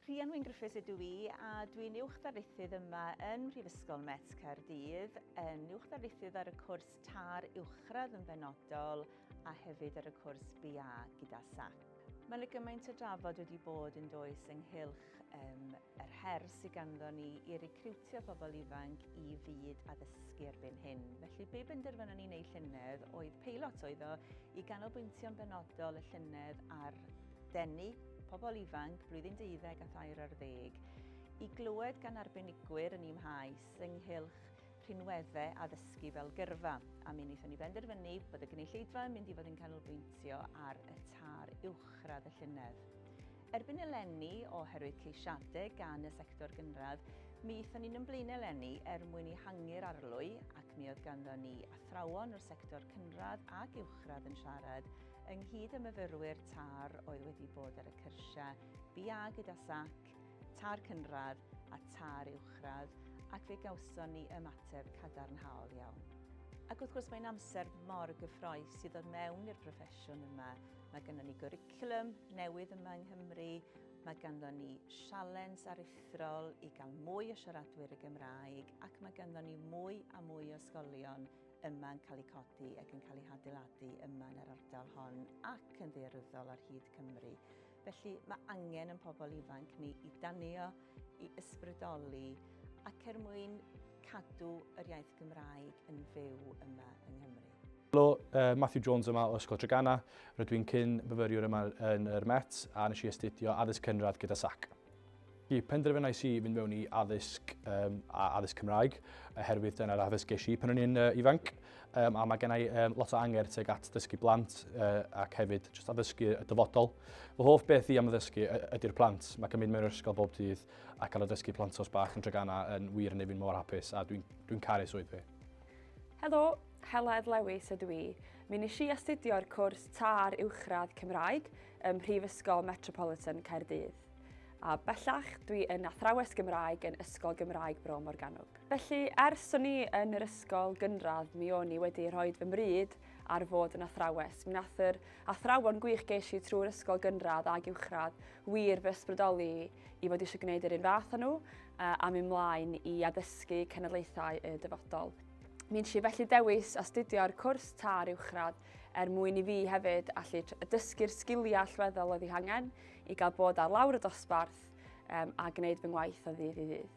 Rhian Wyn Griffiths ydw i a dwi'n Uwch Ddarlithydd yma yn Mhrifysgol Met Caerdydd, yn Uwch Ddarlithydd ar y cwrs TAR Uwchradd yn benodol a hefyd ar y cwrs BA gyda SACP. Mae yna gymaint o drafod wedi bod yn does ynghylch um, yr her sydd ganddo ni i recriwtio pobl ifanc i fyd addysgu erbyn hyn. Felly be benderfynon ni'n ei llynedd oedd peilot oedd o i ganolbwyntio'n benodol y llynedd ar denu pobl ifanc blwyddyn deuddeg a thair ar ddeg i glywed gan arbenigwyr yn imhaes ynghylch rhinweddau addysgu fel gyrfa, a mi wnaethon ni benderfynu bod y gynulleidfa yn mynd i fod yn canolbwyntio ar y tar uwchradd y llynedd. Erbyn eleni, oherwydd ceisiadau gan y sector gynradd, mi aethon ni'n ymlaen eleni er mwyn i hangu'r arlwy ac mi oedd ganddo ni athrawon o'r sector cynradd ac uwchradd yn siarad Ynghyd â myfyrwyr TARR oedd wedi bod ar y cyrsiau BA gyda sac, TARR Cynradd a TARR Uwchradd ac fe gawson ni ymateb cadarnhaol iawn. Ac wrth gwrs mae'n amser mor gyffroes i ddod mewn i'r proffesiwn yma. Mae ganddo ni gwricwlwm newydd yma yng Nghymru, mae ganddo ni sialens aruthrol i gael mwy o siaradwyr y Gymraeg ac mae ganddo ni mwy a mwy o ysgolion yma yn cael eu codi ac yn cael eu hadeiladu yma yn yr ardal hon ac yn ddearwyddol ar hyd Cymru. Felly mae angen yn pobl ifanc ni i danio, i ysbrydoli ac er mwyn cadw yr iaith Gymraeg yn fyw yma yng Nghymru. Helo, uh, Matthew Jones yma o Ysgol Trygana. Rydw i'n cyn myfyriwr yma yn yr Met a nes i astudio addysg cynradd gyda SAC. Y penderfynais i fynd mewn i addysg um, a addysg Cymraeg, oherwydd dyna'r addysg geis i pan o'n i'n uh, ifanc, um, a mae gennau um, lot o anger teg at dysgu blant uh, ac hefyd just addysgu y dyfodol. Fy hoff beth i am addysgu ydy'r plant. Mae cymryd mewn ysgol bob dydd a cael addysgu plant os bach yn dragana yn wir yn ei fi'n mor hapus a dwi'n dwi, caru swydd fi. Helo, Heledd Lewis ydw i. Mi nes i astudio'r cwrs TAR Uwchradd Cymraeg, ym Mhrifysgol Metropolitan Caerdydd. A bellach, dwi yn athrawes Gymraeg yn Ysgol Gymraeg Bro Morgannwg. Felly, ers o'n i yn yr ysgol gynradd, mi o'n i wedi rhoi fy mryd ar fod yn athrawes. Mi nath yr athrawon gwych geis i trwy'r ysgol gynradd ac uwchradd wir fy ysbrydoli i fod eisiau gwneud yr un fath â nhw a mi mlaen i addysgu cenedlaethau y dyfodol. Mi nes i felly dewis astudio'r cwrs târ uwchradd er mwyn i fi hefyd allu dysgu'r sgiliau allweddol oedd ei hangen i gael bod ar lawr y dosbarth um, a gwneud fy ngwaith o ddydd i ddydd.